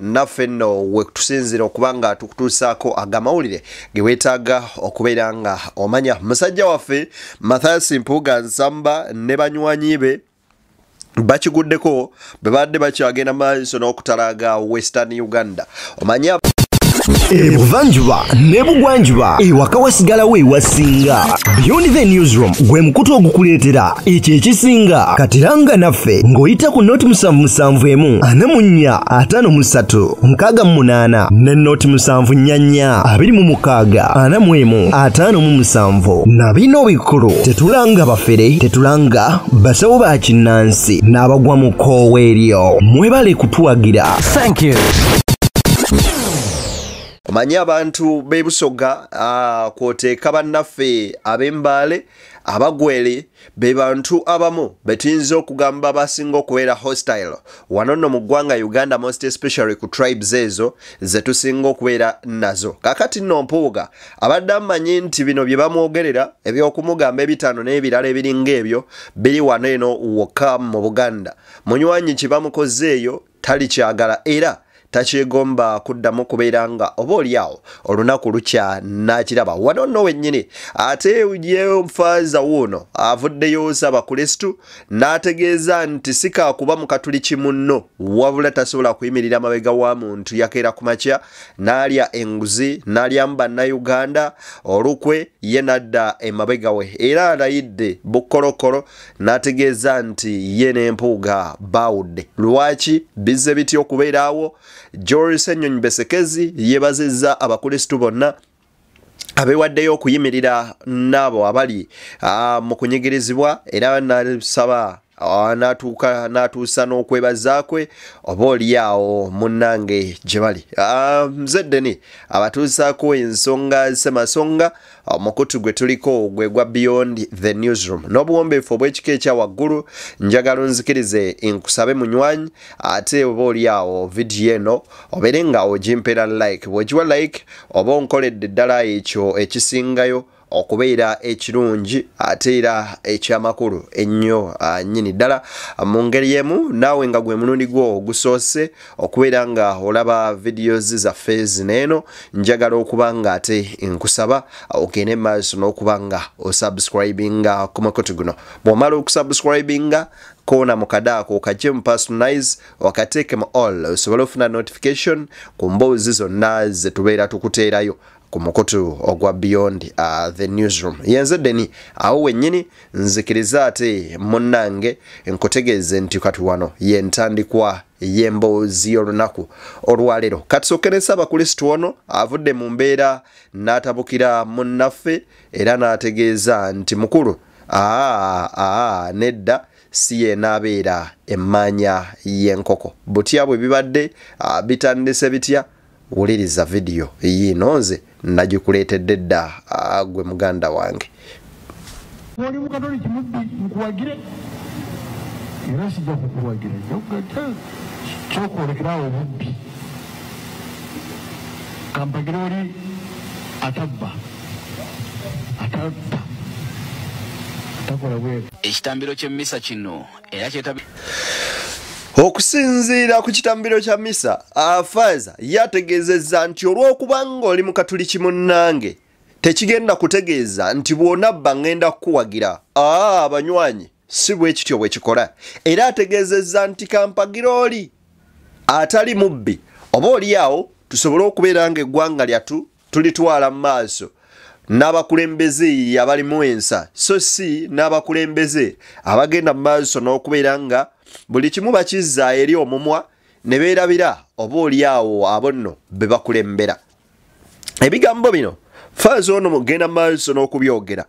naffe nno wekutusinzira okuba nga tukutuusaako agamawulire ge weetaaga okubeera nga omanya musajja waffe mathias mpuuga nsamba ne banywanyi be bakiguddeko bwe badde bakyagenda maaso n'okutalaaga western uganda omanyi ebuvanjuba nebugwanjuba ewaka wasigalawo ewasinga beyond the newsroom gwe mukutu ogukuleetera ekyo ekisinga katiranga naffe ng'oyita ku nooti musanvu musanvu emu ana mu nnya ataano mu ssatu nkaaga mu munaana ne nooti musanvu nnya nnya abiri mu mukaaga ana mu emu ataano mu musanvu na bino bikulu tetulanga bafere tetulanga basawo ba kinnansi n'abagwa mu kkoowa eryo mwebale kutuwagira omanyi abantu b'ebusoga ah, kwoteeka bannaffe ab'embaale abagwere be bantu abamu betuyinza okugamba basinga okubeera hostile wano nno mu ggwanga uganda most especially ku tribes ezo zetusinga okubeera nazo kakati nno mpuuga abadde amanyi nti bino bye bamwogerera ebyokumugamba ebitaano n'ebirala ebiringa ebyo biri wano eno wokka mu buganda munywanyi kye bamukoze eyo talikyagala era takyegomba kuddamu kubeera nga oba olyawo olunaku lukya nakiraba wano nno wennyini ate yefaaza wuuno avuddeyo saba kristu n'ategeeza nti sikaakuba mukatuliki munno wabula tasobola kuyimirira mabega wa muntu yakeera ku makya n'alya enguzi n'alyamu bannayuganda olukwe ye nadda emabega we era alayidde bukkolokolo n'ategeeza nti ye ne mpuuga baawudde lwaki bizze bitya okubeeraawo george senyonyi besekezi yeebazizza abakulisitu bonna abewaddeyo okuyimirira n'abo abali ah, mu kunyigirizibwa era nasaba ah, natuuka natuusa n'okwebaza kwe oba olyawo munnange gye bali ah, mzeddeni abatuusaako ensonga semasonga omukutu gwe tuliko gwe gwa beyond the newsroom n'obuwombeefu obw'ekika ekya waggulu njagala onzikirize nkusabe munywanyi ate oba oli awo vidiyo eno obeere nga ogimpera like bw'ogiwa like oba onkoledde ddala ekyo ekisingayo okubeera ekirungi ate era ekyamakulu ennyo ah, nnyini ddala mu ngeri emu naawe nga gwe mulundi gwo ogusoose okubeera nga olaba videos zaffe zineeno njagala okuba nga ate nkusaba ogende maaso n'okuba nga osubscribinga ku mukutu guno bw'omala okusubscribinga kona mukadaako okajje mu personalize wakateeke mu all osobole ofuna notification ku mboozi zonna ze tubeera tukuteerayo ku mukutu ogwa beyond uh, the newsroom yenze deni awo wennyini nzikiriza ate munnange nkutegeeze nti kati wano yentandikwa yemboozi y'olunaku olwaleero katusooke nesaba kristo ono avudde mu mbeera n'atabukira munnaffe era n'ategeeza nti mukulu aa aa nedda si yenaabeera emmaanya y'enkoko butya bwe bibadde bitandise bitya wuliriza vidiyo yiino nze nagikuleetedde dda gwe muganda wange oli mukatoliki mubbi nkuwagire era sijja kukuwagira kyokwolekerawo obubbi kampagire oli atabba atabba ekitambiro ky'emmisa kino era kyetabi okusinziira ku kitambiro kya misa afaaza ye ategeezezza nti olw'okuba ng'oli mu katuliki munnange tekigenda kutegeeza nti bw'onabba ng'enda kukuwagira aa abanywanyi si bwe kityo bwe kikola era ategeezezza nti kampagira oli atali mubbi oba olyawo tusobole okubeera ng'eggwanga lyattu tulitwala mu maaso n'abakulembeze abalimu ensa so si n'abakulembeze abagenda mu maaso n'okubeera nga buli kimu bakizza eri omumwa ne beerabira oba oli awo abo nno be bakulembera ebigambo bino faaza ono mugenda mu maaso n'okubyogera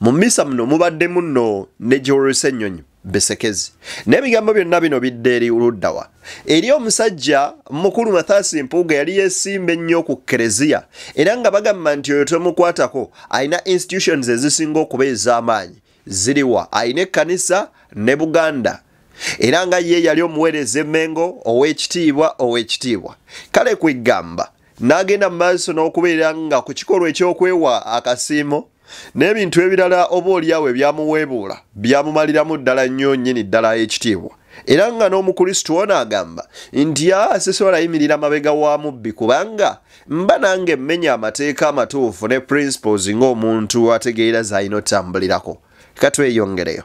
Mu mmisa muno mubaddemu nno ne Joel Ssenyonyi Besekezi. N'ebigambo byonna bino bidde eri luddawa. Eri omusajja mukulu Mathaasi Mpuuga yali yeesimba ennyo ku Kereziya era nga bagamba nti oyo tomukwatako alina institutions ezisinga okuba ez'amaanyi. Ziriwa alina ekkanisa ne Buganda era nga ye yali omuweereza emmengo ow'ekitiibwa ow'ekitiibwa. Kale kwegamba n'agenda mu maaso n'okubeera nga ku kikolwa eky'okwewa akasiimo n'ebintu ebirala oba olyawo ebyamuweebuula byamumaliramu ddala nnyo nnyini ddala ekitiibwa era nga n'omukulisitu ono agamba nti asisobola yimirira mabega wa mubbi kubanga mba nange mmenya amateeka amatuufu ne principles ng'omuntu ategeera z'alina otambulirako katweyongereyo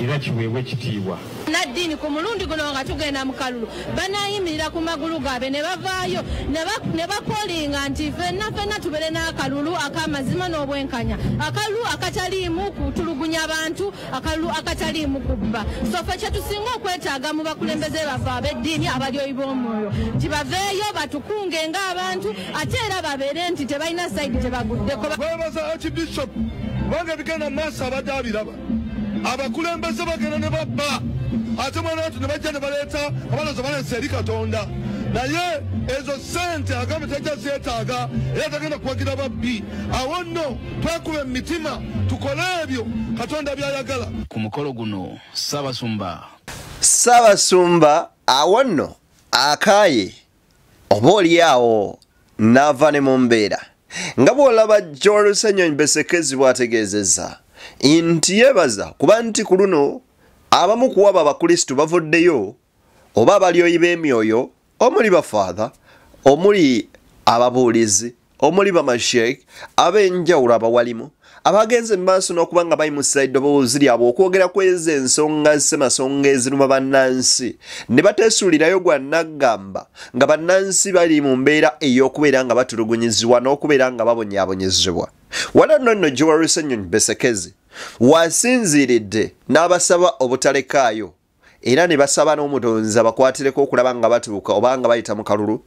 era kiweebwe ekitiibwa. Bannaddiini ku mulundi guno nga tugenda mu kalulu banaayimirira ku magulu gaabwe ne bavaayo ne bakolinga nti fenna fenna tubeere n'akalulu ak'amazima n'obwenkanya akalulu akataliimu kutulugunya bantu akalulu akataliimu kubba sofe kye tusinga okwetaaga mu bakulembeze baffe ab'eddiini abalyoyi b'omwoyo nti baveeyo batukunge ng'abantu ate era babeere nti tebalina saidi gyebaguddeko babaza archbishop kubanga ebigenda maaso abadde abiraba abakulembeze bagenda ne babba ate mwana watu ne bajja ne baleeta abalazo balesa eri katonda naye ezo sente agambe tajja zeetaaga era tagenda kuwagira babbi awo nno twekuba emitima tukole ebyo katonda byayagala ku mukolo guno sabasumba sabasumba awo nno akaaye oba olyawo n'ava ne mu mbeera nga bw'olaba jorusenyony besekezi bw'ategeezezza nti yeebaza kuba nti ku luno abamu kuwaba abakristu bavuddeyo oba abalyoyi b'emyoyo omuli bafaatha omuli ababuulizi omuli bamasheik ab'enjawulo abawalimu abagenze mu maaso n'okuba nga bayimusa eddoboozi lyabwe okwogera ku ezo ensonga zissemasonga eziruma bannansi ne bateesuulirayo gwa naggamba nga bannansi bali mu mbeera ey'okubeera nga batulugunyizibwa n'okubeera nga babonyaabonyezebwa wala nno nno gyewalusennyonyi besekezi wasinziiridde n'abasaba obutalekaayo era ne basaba n'omutonzi abakwatireko okulaba nga batuuka oba nga bayita mu kalulu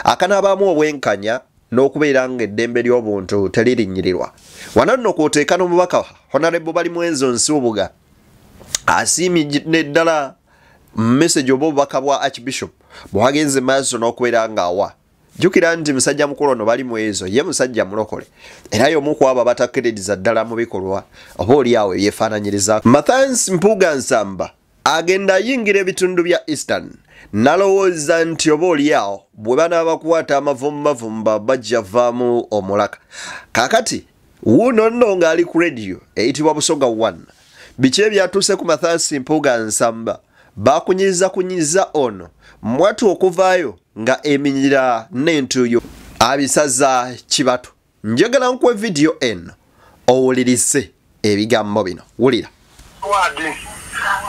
akanaabaamu obwenkanya n'okubeera nga eddembe ly'obuntu teririnyirirwa wano nno kwoteeka n'omubaka honarebo bali mwenzo nsiubuga asiimi neddala message oba obubaka bwa archbishop bwagenze maaso n'okubeera ng'awa jukira nti musajja mukulu ono bali mu ezo ye musajja mulokole era y'omu ku abo abatakkiririza ddala mu bikolwa oba oli awo ebyefaananyiriza mathans mpuuga nsamba agenda ayingira ebitundu bya eastern nalowooza nti oba oli awo bwe banaabakwata amavumumavumba bajja vaamu omulaka kakati wuuno nno ng'ali ku rediyo eyitibwa busoga 1 biki ebyatuuse ku mathansi mpuuga nsamba bakunyiza kunyiza ono mwatu okuvaayo nga eminyira n'entuyo abisaza kibatu njagala nkuwe vidiyo eno owulirize ebigambo bino wulira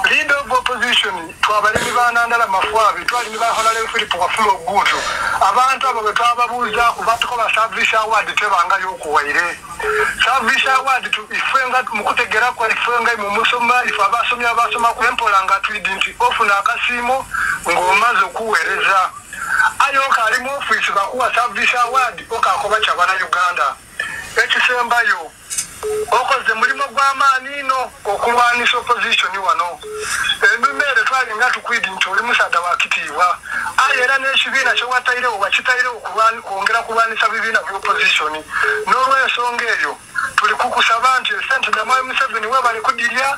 Leader of opposition twabalimi ba Nandala Mafwabi twalimi ba Honorable Philip Wafula Ogutu abantu abo betwababuuza kubatukola service award tebanga yokuwaire service award ifenga mukutegera kwa ifenga mu musoma ife abasomye abasoma kwempola nga twidi nti ofuna akasiimo ng'omaze okuweereza ayo kali mu office bakuwa service award okakoba kyabana Uganda ekisembayo okoze mulimu gw'amaani ino okulwanisa opposition wano enumeere twali nga tukwidi nti oli musaada wa kitiibwa aye era n'ekibiina kyewatairewo wakitairewo kwongera kulwanisa bibiina by'opposition n'olwensonga eyo tuli kukusaba nti esente damwayi museveni webali kudirya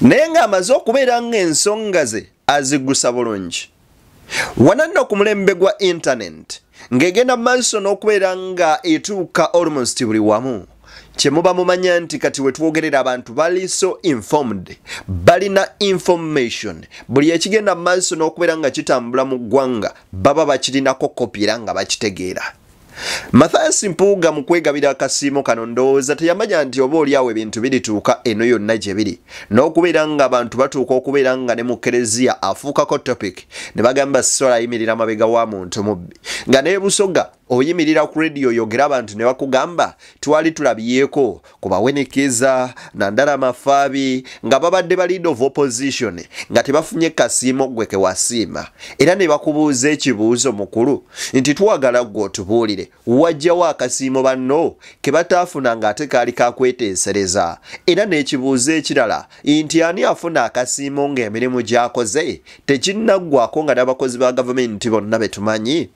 naye ng'amaze okubeera ng'ensonga ze azigusa bulungi wananno ku mulembe gwa intanenti ng'egenda mu maaso n'okubeera nga etuuka almost buli wamu kyemuba mumanya nti kati wetwogerera abantu bali so informed balina information buli ekigenda mu maaso n'okubeera nga kitambula mu ggwanga baba bakirinako kopira nga bakitegeera Mathias Mpuuga mu kwegabira akasiimo kano ndowooza teyamanya nti oba oli awo ebintu birituuka eno yonna gye biri n'okubeera ng'abantu batuuka okubeera nga ne mu kereziya afuukako topic ne bagamba sisola ayimirira mabega wa muntu mubbi nga n'ebusoga oyimirira ku rediyo oyogera abantu ne bakugamba twali tulabyeko ku bawenekeeza nandala mafaabi nga babadde ba lead of opposition nga tebafunye kasiimo gwe kewasiima era ne bakubuuza ekibuuzo mukulu nti twagala gwe otubuulire wajjawo akasiimo banno ke bataafuna ng'ate kaali kakweteesereza era n'ekibuuzo ekirala nti ani afuna akasiimo ng'emirimu gy'akoze tekinnaggwako nga n'abakozi ba gavumenti bonna be tumanyi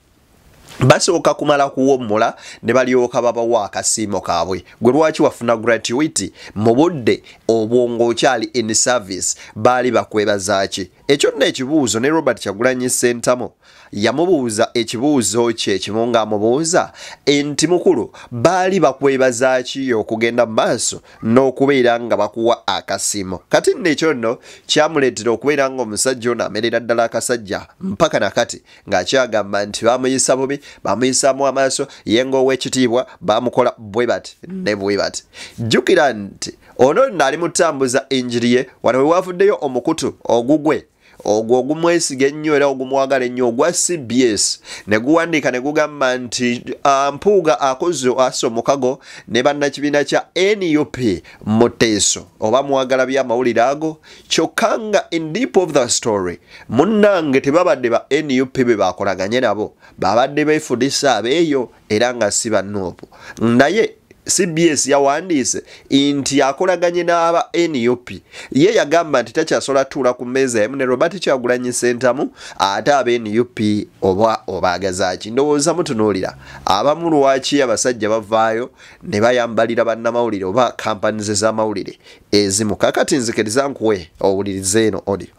basooka kumala kuwommula ne balyoka babawa akasiimo kaabwe gwe lwaki wafuna gratuity mu budde obwo ng'okyali in service baali bakwebazaaki ekyo nno ekibuuzo ne robert kyagulanyi sentamo yamubuuza ekibuuzo kye ekimu ng'amubuuza nti mukulu baali bakwebazaaki okugenda mu maaso n'okubeera nga bakuwa akasiimo kati nno ekyo nno kyamuleetera okubeera ng'omusajja ono amerera ddala akasajja mpaka na kati ng'akyagamba nti baamuyisa bubi baamuyisaamu amaaso ye ng'ow'ekitiibwa baamukola bwe bati ne bwe bati jjukira nti ono nno ali mutambuza enjiri ye wano we waavuddeyo omukutu ogugwe ogwo ogumwesiga ennyo era ogumwagala ennyo ogwa cbs ne guwandiika ne gugamba nti ah, mpuuga akoze ase omukago ne bannakibiina kya nup muteeso oba mwagala by'amawulire ago kyokka nga in deep of the story munnange tebabadde ba nup be bakolaganye nabo babadde befudisa abeeyo era nga si banuupu naye cbs yawandiise nti yakolaganye n'aba nup ye yagamba nti takyasobola tuula ku mmeeza emu ne robert kyagulanyi sentamu ate aba nup oba obaagazaki ndowooza mutunuulira abamu lwaki abasajja bavaayo ne bayambalira bannamawulire oba kampanize z'amawulire ezimu kakati nzikiriza nkuwe owuliriza eno audio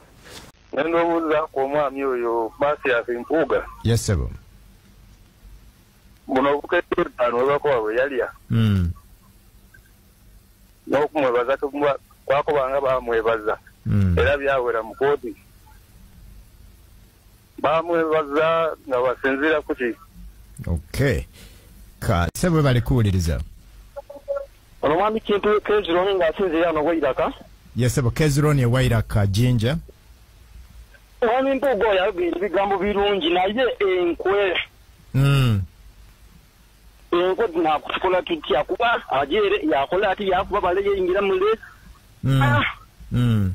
nenda obuuza ku omwami oyo masias mpuuga yesebo buno obukedde etaano webakowa bwe yalya hmm. n'okumwebaza kwakubanga bamwebaza hmm. era byawera mu kooti bamwebaza nga basinziira kuki okay ka sebwe bali kuwuliriza ono mwami kintu kezironi nga asinziira ano wairaka yesebo kezironi ewairaka jinja mwami mpuuga oyo ayogera ebigambo birungi naye enkwe mm. enkwe nakutukola tutya kuba ajeere yakola ati yakuba bale yeyingira mule mm. ah. mm.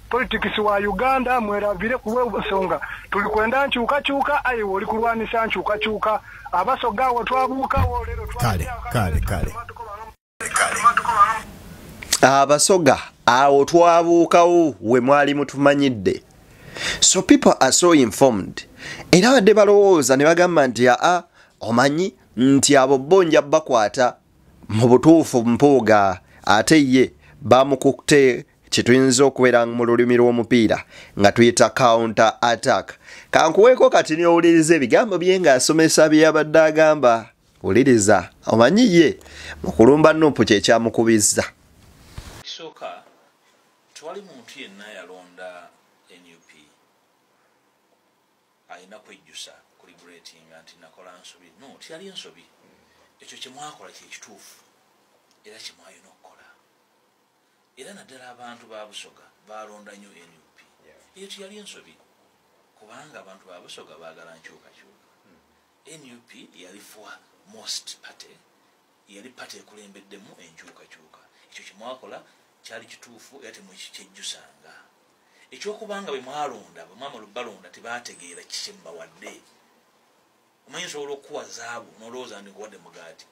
Politics wa Uganda mwerabire kuwe busonga tuli kwenda nchuka chuka ayi woli kulwanisa nchuka chuka abaso gawo twabuka wo lero twa kale kale kale abasoga awo twabuukawo we mwali mutumanyidde so people are so informed era badde balowooza ne bagamba nti aa omanyi nti abo bo nja bakwata mu butuufu mpuuga ate ye bamukukte kituyinza okubeera mu lulimi lw'omupiira nga tuyita counter attack kankuweeko kati niowuliriza ebigambo bye ng'asomesa bye yabadde agamba wuliriza omanyi ye mu kulumba nupu kye kyamukubizza ekisooka tewali muntu yenna yalonda nup alina kwejjusa kuli gretinga nti nakola nsobi no tiyali nsobi ekyo kyemwakola kyekituufu era kyemwayina era naddala abantu ba busoga balonda nyo nup eyo tiyali ensobi kubanga abantu ba busoga bagala nkyukakyuka hmm. nup yali for most party yali party ekulembeddemu enkyukakyuka ekyo kyemwakola kyali kituufu era temukikyejjusanga ekyokubanga bwemwalonda bwemwamala balonda tebategeera kikyemubawadde omanyi nsobola okukuwa zaabu nolowooza ndi nkuwadde mugaati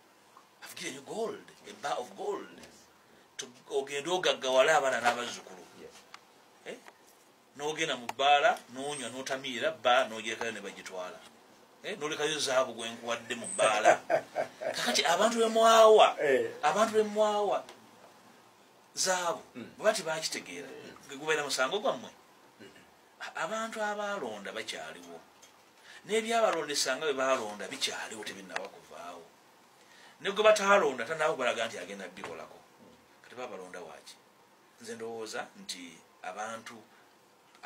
have given you gold a bar of gold ogende ogaggawale abaana n'abazzukulu eh? n'ogenda mu bbaala n'onywa n'otamiira bba n'ogyekayo ne bagitwala eh? nolekayo zaabu gwe nkuwadde mu bbaala kakati abantu bemwawa eh. abantu bemwawa zaabu hmm. bwe bati bakitegeera gubeera musango gwammwe hmm. abantu abaalonda bakyaliwo nebyabalondesa nga bebalonda bikyaliwo tebinaba kuvaawo negwe batalonda tanaba kubalaga nti agenda bikolako kati babalonda waki nze ndowooza nti abantu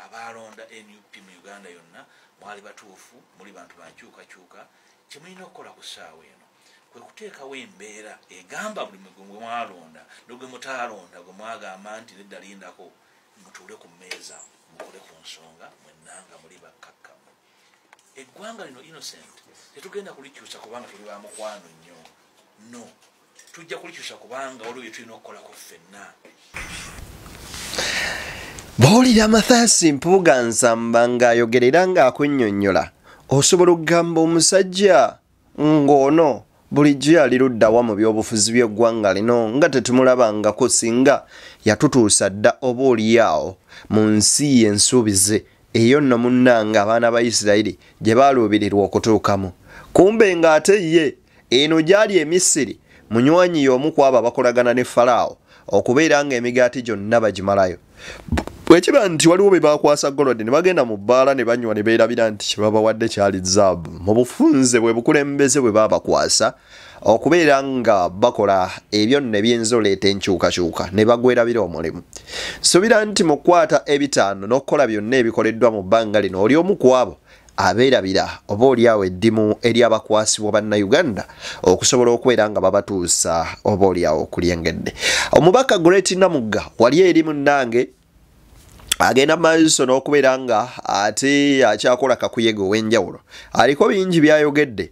abalonda nup mu uganda yonna mwali batuufu muli bantu bankyukakyuka kyemulina okukola ku ssaawa eno kwe kuteekawo embeera egamba buli mugwe mwalonda nogwe mutaalonda gwe mwagamba nti nedda lindako mutuule ku mmeeza mukole ku nsonga mwenanga muli bakkakkamu eggwanga lino innocent tetugenda kulikyusa kubanga tuli bamukwano nnyo no tujja kulikyusa kubanga waliwo byetulina okukolako ffenna bawulira amathaasi mpuuga nsamba ng'ayogerera ng'akunnyonnyola osobola okugamba omusajja ng'ono bulijjo yali luddawa mu by'obufuzi by'eggwanga lino nga tetumulabangako singa yatutuusa dda oba oliyaawo mu nsi ye ensuubize eyo nno munnanga abaana ba isirayiri gye baaluubirirwa okutuukamu kumbe ng'ate ye eno gyali emisiri munywanyi y'omu kwabo abakolagana ne falaawo okubeera ng'emigaati gyonna bagimalayo bwekiba nti waliwo be bakwasa golodi ne bagenda mu bbaala ne banywa ne beerabira nti kye babawadde kyali zaabu mu bufunze bwe bukulembeze bwe baabakwasa okubeera nga bakola ebyo nno ebyinza oleeta enkyukakyuka ne bagwerabira omulimu nsuubira nti mu kukwata ebitaano n'okukola byonna ebikoleddwa mu bbanga lino oli omu ku abo abeerabira oba olyawo eddimu eryabakwasibwa bannayuganda okusobola okubeera nga babatuusa oba olyawo okulyengedde omubaka great namugga wali eri munnange agenda maaso n'okubeera nga ate akyakola kakuyege ow'enjawulo aliko bingi byayogedde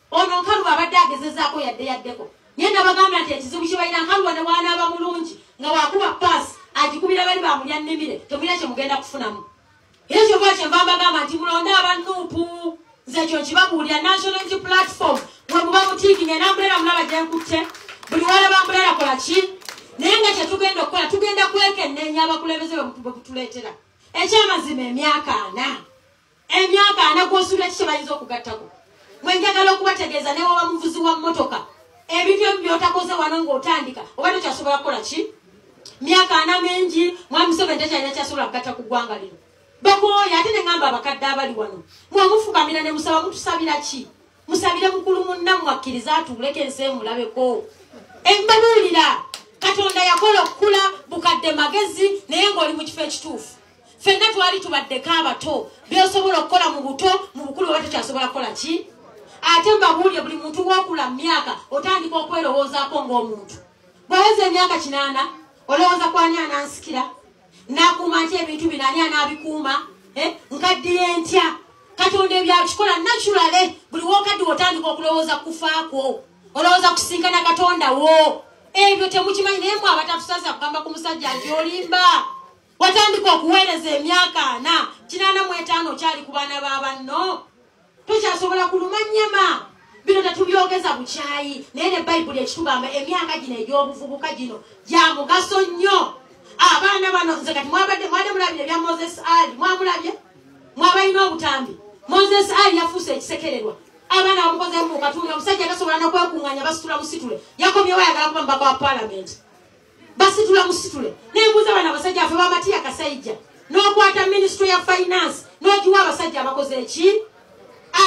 Ono nkalubo abadde agezezaako yadde yaddeko naye nabagamba nti ekizibu kibalina nkalubo ne waanaaba mulungi nga wakuba paasi agikubira bali bamulya nnimire temulina kye mugenda kufunamu era kyova kyenva mbagamba nti mulonde abannuupu nze ekyo nkibabuulira national nti platform wemuba mutiikinga enambulera mulaba gyenkutte buli walaba mbulera kola ki naye nga kyetugenda okukola tugenda kwekenneenya abakulembeze bwebutuleetera ekyamazima emyaka ana Emyaka ana gw'osuula ki kye bayinza okugattako? Mwe njagala okubategeeza ne waba muvuzi wa mmotoka ebintu ebi byotakoze wano ng'otandika oba tokyasobola kukola ki myaka ana mingi mwami museveni tekyalina kyasobola kugatta ku ggwanga lino bakooya ate ne ŋamba abakadde abali wano mwemufukamira ne musaba mutusabira ki musabire mukulu munnammwe akkiriza atuuleko ensi emulabeko embabuulira katonda yakola okukula bukadde magezi naye ng'oli mu kifo ekituufu fenna twali tubaddeko abato byosobola okukola mu buto mu bukulu oba tukyasobola kukola ki ate mbabuulire buli muntu wokula mu myaka otandika okwerowoozaako ng'omuntu bweweza emyaka kinaana olowooza kwani anansikira nakuuma ntya ebintu bino ani anaabikuuma eh, nkaddiye ntya katonda ebyakikola naturale buli wokaddiwa otandika okulowooza kufaakwo olowooza kusinkana katonda wo ebyo temukimanyi naye mwe abatatusasa kugamba ku musajja nti olimba watandika okuweereza emyaka ana kinaana mu etaano okyali ku baana ba banno tukyasobola kulumanyama bino tetubyogeza bukyayi naye ne bayibuli ekitugamba emyaka gino egy'obuvubuka gino gya mugaso nnyo abaana bano nze kati mwabadde mwade mulabire ebya moses ali mwamulabye mwabalina obutambi moses ali yafuuse ekisekererwa abaana bamukozemu katunga omusajja tasobola nokwekunganya basitula musitule yakomyewo ayagala kuba mubaka wa palamenti basitula musitule nembuuza bana abasajja afe bamatiya kasaija nokwata ministry ya finance nogiwa abasajja abakoze eki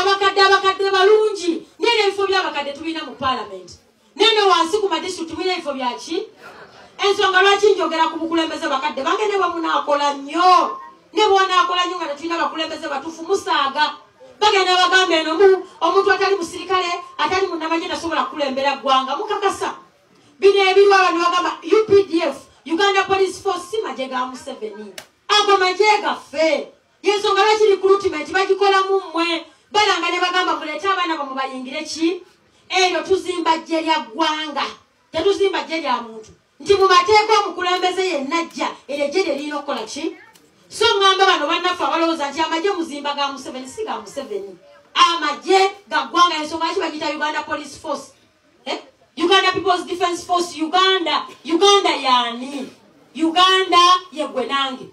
abakadde abakadde balungi naye nebifo byabakadde tubina mu parliament nene wansi ku madistrict tubina ebifo byaki ensonga lwaki njogera ku bukulembeze bakadde bange ne bwemunakola nnyo ne bwonakola nnyo nga tetulina bakulembeze batufu musaaga bagenda bagamba eno omuntu atali musirikale atali munamanye tasobola kukulembera ggwanga mukakasa bino ebirwa abantu bagamba updf uganda police force si magye ga museveni ago magye gaffe yensonga lwaki recruitment bagikolamu mmwe balanga ne bagamba muleete abaana bamwe bayingire ki eryo tuzimba jje lya ggwanga tetuzimba jje lya muntu nti mu mateeka omukulembeze yenna jja eryo jje lye lirina okukola ki so ŋŋamba bano bannaffe abalowooza nti amagye muzimba ga museveni si ga museveni amagye ga ggwanga yensonga lwaki bagiyita uganda police force eh? uganda peoples defense force uganda uganda yani uganda yegwe nange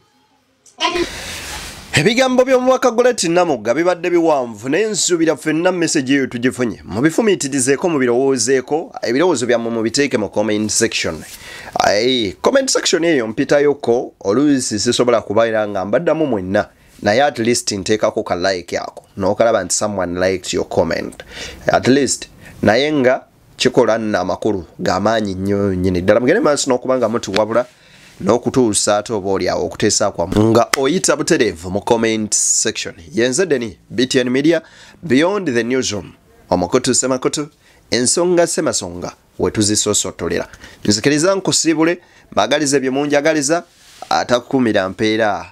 kati ebigambo by'omubaka goleti namugga bibadde biwanvu naye nsuubira fenna mesegi eyo tugifunye mubifumiitirizeeko mubirowoozeeko ebirowoozo byammwe mubiteeke mu comment section comment section eyo mpitayoko oluusi sisobola kubaera nga mbaddamu mwenna naye at least nteekako ka like ako nokalaba nti someone liked your comment at least naye nga kikola nna amakulu gamaanyi nnyo nyini ddala mugende maaso n'okuba nga mutuwabula n'okutuusa ate oba oli awo okuteesa kwamu nga oyita butereevu mu comment section yenze deni btn media beyond the newsroom omukutu semakutu ensonga semasonga wetuzisosotolera nzikiriza nkusiibule magaliza ebyo munjagaliza atakukumira mpeera